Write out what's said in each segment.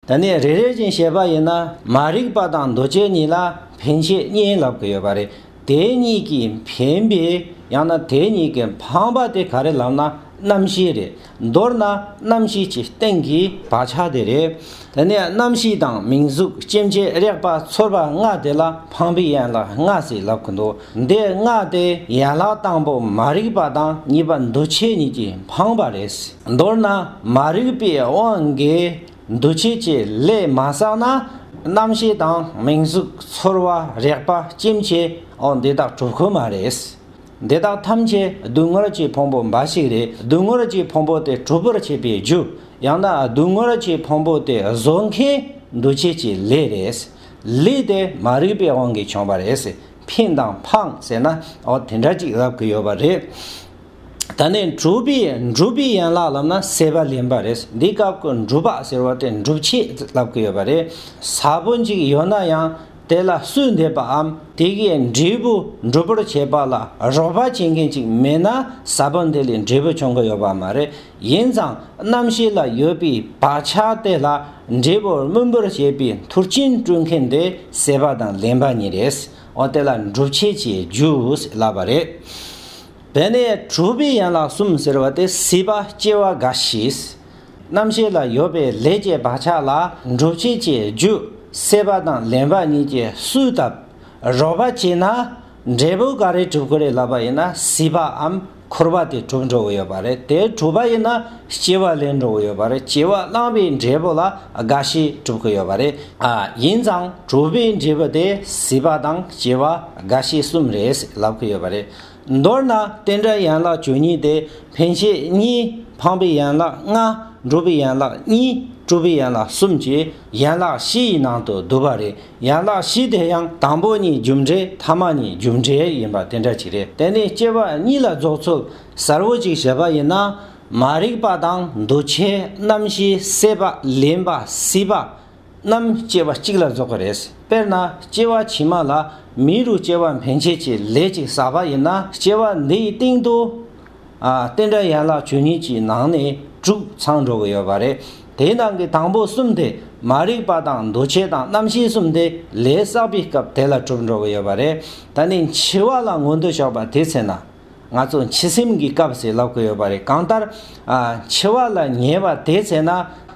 ད་ནས་རེ་རེ་བཞིན་བཤད་པ་ཡིན་ན་མ་རིག་པ་དང་འདུ་བྱེད་གཉིས་ལ་ཕན་ཆད་གཉིས་ལབ་གི་ཡོད་པ་རེད། དེ་གཉིས་ཀྱིས་ཕན་པའི་ཡང་ན་དེ་གཉིས་ཀྱིས་ཕངས་པ་དེ་ག་རེ་ལབ་ན་རྣམ་ཤེས་རེད། མདོར་ན་རྣམ་ཤེས་ཀྱི་སྟེང་གི་བག་ཆགས་དེ་རེད། དེ་ནས་རྣམ་ཤེས་དང་མིང་གཟུགས་སྐྱེ་མཆེད་རེག་པ་ཚོར་བ་ལྔ་དེ་ལ་ཕངས་པའི་ཡན་ལག་ལྔ་ཞེས་ལབ་གི་འདུག་འདིར་སྔགས་དེ་ཡན་ལག་དང་པོ་མ་རིག་པ་དང་གཉིས་པ་འདུ་བྱེད་གཉིས་ཀྱིས་འཕངས་པ་རེད། མདོར་ན་མ་རིག་པའི་དབང་གིས་འདུ་བྱེད་ཀྱི་ལས་མ་བསགས་ན་རྣམ་ཤེས་དང་མིང་གཟུགས་ཚོར་བ་རེག་པ་སྐྱེ་མཆེད་འདི་དག་གྲུབ་ཁོ་མ་རེད། འདི་དག་ཐམས་ཅད་སྡུག་བསྔལ་གྱི་ཕུང་པོ་འབའ་ཞིག་རེད་སྡུག་བསྔལ་གྱི་ཕུང་པོ་དེ་གྲུབ་པར་བྱེད་པའི་རྒྱུ་ཡང་ན་སྡུག་བསྔལ་གྱི་ཕུང་པོ་དེ་བཟོ་མཁན་འདུ་བྱེད་ཀྱི་ལས་རེད། ལས་དེ་མ་རིག་པའི་དབང་གིས་བྱུང་བ་རེད། ཕིང་དང་ཕང་ཟེར་ན་འོ་དེ་འདྲ་ཅིག་ལབ་གི་ཡོད་པ་རེད། ད་ནི་འབྲུག་པའི་འབྲུག་པའི་ཡན་ལག་ལབ་ན་སེ་པ་ལེན་པ་རེད། འདི་སྐབས་ཀྱི་འབྲུག་པ་ཟེར་བ་དེ་འབྲུག་ཆས་ལབ་གི་ཡོད་པ་རེད། གཟར་བུ་གཅིག་ཡོད་ན་ཡང་དེ་ལ་སུས་འདེབས་པའམ་དེ་གའི་འབྲས་བུ་འབྲུག་པོར་བྱེད་པ་ལ་རོགས་པ་བྱེད་མཁན་ཅིག་མེད་ན་གཟར་བུ་འདི་ལས་འབྲས་བུ་བྱུང་གི་ཡོད་པ་མ་རེད། ཡིན་ཙང་རྣམ་ཤེས་ལ་ཡོད་པའི་བག་ཆགས་དེ་ལ་འབྲས་བུར་སྨོན་པར་བྱེད་པའི་མཐུར་རྐྱེན་སྤྲོད་མཁན་དེ་སྲེད་པ་དང་ལེན་པ་ཉིད་རེད། འོ་དེ་ལ་འགྲུབ་བྱེད་ཅེས་བརྗོད་སླ་བ་རེད། དེ་ནས་གྲུབ་པའི་ཡན་ལག་གསུམ་ཟེར་བ་དེ་སྲིད་པ་སྐྱེ་བ་རྒ་ཤིས། རྣམ་ཤེས་ལ་ཡོད་པའི་ལས་ཀྱི་བག་ཆགས་ལ་འགྲུབ་བྱེད་ཅེས་བརྗོད་སྲེད་པ་དང་ལེན་པ་གཉིས་ཀྱི་སུའི་སྟབས་རོལ་པ་བྱས་ན་འབྲས་བུ་ག་རེ་གྲུབ་ཀི་རེད་ལབ་པ་ཡིན་ན་སྲིད་པའམ། འཁོར་བ་དེ་གྲུབ་འགྲོ་གི་ཡོད་པ་རེད་དེ་གྲུབ་པ་ཡིན་ན་སྐྱེ་བ་ལེན་འགྲོ་གི་ཡོད་པ་རེད་སྐྱེ་བ་བླངས་པའི་འབྲས་བུ་ལ་རྒ་ཤི་གྲུབ་ཀྱི་ཡོད་པ་རེད་ཨ་ཡིན་ཙང་གྲུབ་པའི་འབྲས་བུ་དེ་སྲིད་པ་དང་སྐྱེ་བ་རྒ་ཤི་གསུམ་རེད་ཟེར་ལབ་ཀྱི་ཡོད་པ་རེད། མདོར་ན་རྟེན་འབྲེལ་ཡན་ལག་བཅུ་གཉིས་དེ་འཕེན་བྱེད་གཉིས་འཕངས་པའི་ཡན་ལག་ལྔ་འགྲུབ་པའི་ཡན་ལག་གཉིས་གྲུབ་པའི་ཡན་ལག་གསུམ་གྱི་ཡན་ལག་བཞི་ཡི་ནང་དུ་བསྡུ་བ་རེད། ཡན་ལག་བཞི་དེ་ཡང་དང་པོ་གཉིས་རྒྱུ་འབྲས་ཐ་མ་གཉིས་རྒྱུ་འབྲས་ཡིན་པ་དེ་འདྲ་ཅིག་རེད་དེ་ནི་སྐྱེ་བ་གཉིས་ལ་རྫོགས་ཚུལ་གསལ་བོ་ཅིག་བྱེད་པ་ཡིན་ན་མ་རིག་པ་དང་འདུ་བྱེད་རྣམ་བཞིའི་སྲེད་པ་ལེན་པ་སྲིད་པ་རྣམས་སྐྱེ་བ་གཅིག་ལ་རྫོགས་པ་རེད་དཔེར་ན་སྐྱེ་བ་ཕྱི་མ་ལ་མི་རུ་སྐྱེ་བ་འཕེན་བྱེད་ཀྱི་ལས་ཅིག་བསགས་པ་ཡིན་ན་སྐྱེ་བ་འདིའི་སྟེང་དུ། རྟེན་འབྲེལ་ཡན་ལག་བཅུ་གཉིས་ཀྱི་ནང་ནས་དྲུག་ཚང་འགྲོ་གི་ཡོད་པ་རེད། དེའི་ནང་གི་དང་པོ་གསུམ་དེ་མ་རིག་པ་དང་འདུ་བྱེད་དང་རྣམ་ཤེས་གསུམ་དེ་ལས་བསགས་པའི་སྐབས་དེ་ལ་གྲུབ་འགྲོ་གི་ཡོད་པ་རེད། ད་ནི་འཆི་བ་ལ་ངོ་འདོད་ཆོག་པ་དེ་ཚེ་ན། ང་ཚོ་འཆི་སེམས་ཀྱི་སྐབས་ཟེར་ལབ་གི་ཡོད་པ་རེད་གང་ལྟར། འཆི་བ་ལ་ཉེ་བ་དེ་ཚེ་ན།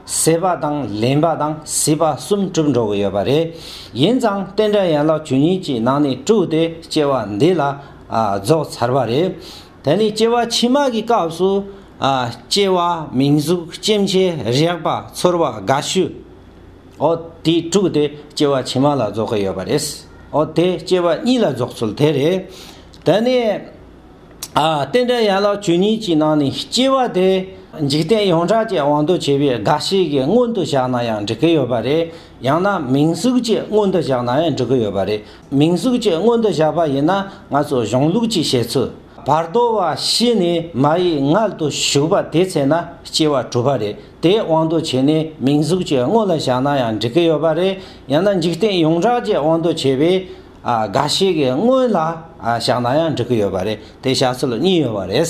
སྲེད་པ་དང་ལེན་པ་དང་སྲིད་པ་གསུམ་གྲུབ་འགྲོ་གི་ཡོད་པ་རེད། ཡིན་ཙང་རྟེན་འབྲེལ་ཡན་ལག་བཅུ་གཉིས་ཀྱི་ནང་ནས་དྲུག་དེ་སྐྱེ་བ་འདི་ལ། རྫོགས་ཚར་བ་རེད། དེ་ནི་སྐྱེ་བ་ཕྱི་མ་གི་སྐབས་སུ། སྐྱེ་བ་མིང་གཟུགས་སྐྱེ་མཆེད་རེག་པ་ཚོར་བ་དགའ་སྐྱོ། ཨོ། དེ་དྲུག་དེ་སྐྱེ་བ་ཕྱི་མ་ལ་རྫོགས་ཀྱི་ཡོད་པ་རེད། ཨོ། དེ་སྐྱེ་བ་གཉིས་ལ་རྫོགས་ཚུལ་དེ་རེད། དེ་ནས། རྟེན་འབྲེལ་ཡན་ལག་བཅུ་གཉིས་ཀྱི་ནང་ནས་སྐྱེ་བ་དེ། འཇིག་རྟེན་ཡོངས་གྲགས་ཀྱི་དབང་དུ་བྱས་པའི་རྒ་ཤི་གི་སྔོན་དུ་བཞག་ན་ཡང་འགྲིག་གི་ཡོད་པ་རེད། ཡང་ན་མིང་གཟུགས་ཀྱི་སྔོན་དུ་བཞག་ན་ཡང་འགྲིག་གི་ཡོད་པ་རེད། མིང་གཟུགས་ཀྱི་སྔོན་དུ་བཞག་པ་ཡིན་ན་ང་ཚོའི་གཞུང་ལུགས་ཀྱི་བཤད་ཚུལ་བར་དོ་བ་ཤི་ནས་མ་ཡི་མངལ་དུ་ཞུགས་པ་དེ་ཚེ་ན་སྐྱེ་བ་གྲུབ་པ་རེད་དེ་དབང་དུ་བྱས་ནས་མིང་གཟུགས་ཀྱི་སྔོན་ལ་བཞག་ན་ཡང་འགྲིག་གི་ཡོད་པ་རེད་ཡང་ན་འཇིག་རྟེན་ཡོངས་གྲགས་ཀྱི་དབང་དུ་བྱས་པའི་ག་ཤེད་ཀྱི་སྔོན་ལ་བཞག་ན་ཡང་འགྲིག་གི་ཡོད་པ་རེད་དེ་བྱ་ཚུལ་གཉིས་ཡོད་པ་རེད།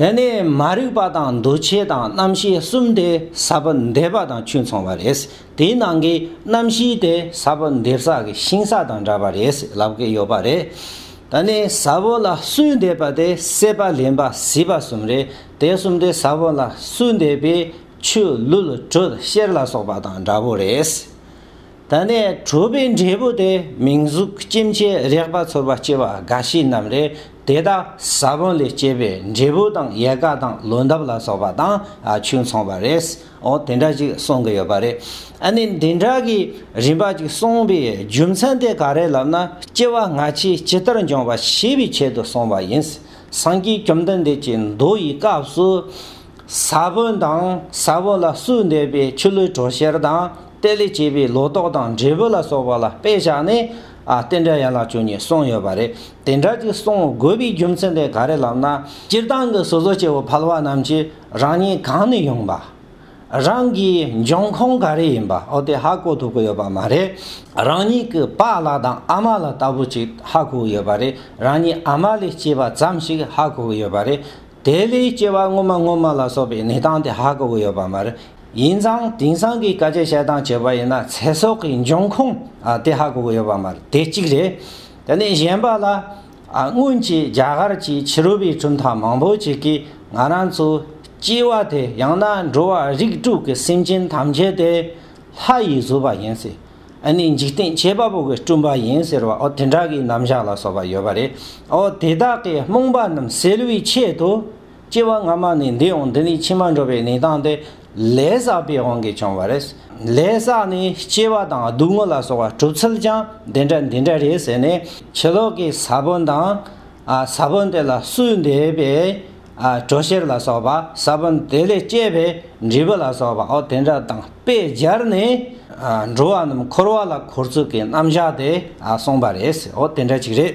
དེ་ནི་མ་རིག་པ་དང་འདུ་བྱེད་དང་རྣམ་ཤེས་གསུམ་དེ་ས་བོན་འདེབས་པ་དང་ཆུ་འཚོང་བ་རེད། དེའི་ནང་གི་རྣམ་བཞི་དེ་ས་བོན་འདེབས་ས་གི་ཤིང་ས་དང་འདྲ་བ་རེད་ལབ་ཀི་ཡོད་པ་རེད། ད་ནི་ས་བོན་ལ་སུས་འདེབས་པ་དེ་སྲེད་པ་ལེན་པ་བཟི་བ་གསུམ་རེད་དེ་གསུམ་དེ་ས་བོན་ལ་སུས་འདེབས་པས་ཆུ་ལུད་དྲོད་གཤེར་ལ་སོགས་པ་དང་འདྲ་བོ་རེད། ད་ནས་གྲུབ་པའི་འབྲས་བུ་དེ་མིང་གཟུགས་སྐྱེ་མཆེད་རེག་པ་ཚོར་བ་སྐྱེ་བ་རྒ་ཤི་རྣམས་རེད་དེ་དག་ས་བོན་ལས་སྐྱེས་པའི་འབྲས་བུ་དང་ཡལ་ག་དང་ལོ་འདབ་ལ་སོགས་པ་དང་ཆུ་མཚུངས་པ་རེད་འོ་དེ་འདྲ་ཅིག་གསུང་གི་ཡོད་པ་རེད་ཨ་ནི་འདི་འདྲ་གི་རིམ་པ་ཅིག་གསུངས་པའི་རྒྱུ་མཚན་དེ་ག་རེད་ལབ་ན་སྐྱེ་བ་སྔ་ཕྱི་ཇི་ལྟར་འབྱུང་བ་ཤེས་པའི་ཆེད་དུ་གསུངས་པ་ཡིན་སངས་རྒྱས་བཅོམ་ལྡན་འདས་ཀྱི་མདོ་ཡི་སྐབས་སུ་ས་བོན་དང་ས་བོན་ལ་སུ་འདེབས་པའི་ཆུ་ལུད་གྲོ་གཤེར་དང། གཏེར་ལས་སྐྱེས་པའི་ལོ་ཏོག་དང་འབྲས་བུ་ལ་སོགས་པ་ལ་དཔེ་བཞག་ནས། རྟེན་འབྲེལ་ཡན་ལག་བཅུ་གཉིས་གསུངས་ཡོད་པ་རེད། དེ་འདྲ་ཅིག་གསུང་དགོས་པའི་རྒྱུ་མཚན་དེ་ག་རེ་ལབ་ན། སྤྱིར་བཏང་གི་སོ་སོ་སྐྱེ་བོ་ཕལ་བ་རྣམས་ཀྱིས་རང་ཉིད་གང་ནས་ཡོང་པ། རང་གི་འབྱུང་ཁུངས་ག་རེ་ཡིན་པ་འོ་དེ་ཧ་གོ་ཐུབ་ཀྱི་ཡོད་པ་མ་རེད། རང་ཉིད་ཀྱི་པ་ལགས་དང་ཨ་མ་ལགས་ལྟ་བུ་ཅིག་ཧ་གོ་གི་ཡོད་པ་རེད། རང་ཉིད་ཨ་མ་ལས་སྐྱེས་པ་ཙམ་ཞིག་ཧ་གོ་གི་ཡོད་པ་རེད། དེ་ལས་སྐྱེ་བ་སྔོན་མ་སྔོན་མ་ལ་སོགས་པའི་གནས་སྟངས་དེ་ཧ་གོ་གི་ཡོད་པ་མ་རེད། ཡིན་ཙང་དེང་སང་གི་དཀའ་སྤྱད་བྱེད་སྟངས་བྱས་པ་ཡིན་ན་ཚེ་སྲོག་གི་འབྱུང་ཁུངས་དེ་ཧ་གོ་གི་ཡོད་པ་མ་རེད་དེ་གཅིག་རེད། དེ་ནས་གཞན་པ་ལ། སྔོན་གྱི་རྒྱ་གར་གྱི་ཕྱི་རོལ་པའི་གྲུབ་མཐའ་མང་པོ་ཞིག་གིས་ང་རང་ཚོའི་སྐྱེ་བ་དེ་ཡང་ན་འགྲོ་བ་རིགས་དྲུག་གི་སེམས་ཅན་ཐམས་ཅད་དེ་ལྷ་ཡིས་བཟོས་པ་ཡིན་སྲིད། ཨ་ནི་འཇིག་རྟེན་བྱེད་པ་པོ་གི་སྤྲུལ་པ་ཡིན་ཟེར་བ་འོ་དེ་འདྲ་གི་རྣམ་གཞག་ལ་སོགས་པ་ཡོད་པ་རེད་འོ་དེ་དག་གི་རྨོངས་པ་རྣམས་སེལ་བའི་ཆེད་དུ། སྐྱེ་བ་སྔ་མ་ནས་འདི་འོང་འདི་ནི་ཕྱི་མ་འགྲོ་བའི་གནས་སྟངས་དེ་ལས་བསགས་པའི་དབང་གིས་བྱུང་བ་རེད། ལས་བསགས་ནི་སྐྱེ་བ་དང་སྡུག་བསྔལ་ལ་སོགས་པ་གྲུབ་ཚུལ་ཀྱང་འདི་འདྲ་འདི་འདྲ་རེད་ཟེར་ནས་ཕྱི་ལོག་གི་ས་བོན་དང། ས་བོན་དེ་ལ་སུའི་འདས་པའི་གྲོ་ཤེར་ལ་སོགས་པ་ས་བོན་དེ་ལས་སྐྱེས་པའི་འབྲས་བུ་ལ་སོགས་པའོ་དེ་འདྲ་དང་དཔེ་སྦྱར་ནས། འགྲོ་བ་རྣམས་འཁོར་བ་ལ་འཁོར་ཚུལ་གྱི་རྣམ་གཞག་དེ་གསུངས་པ་རེད། འོ་དེ་འདྲ་ཅིག་རེད།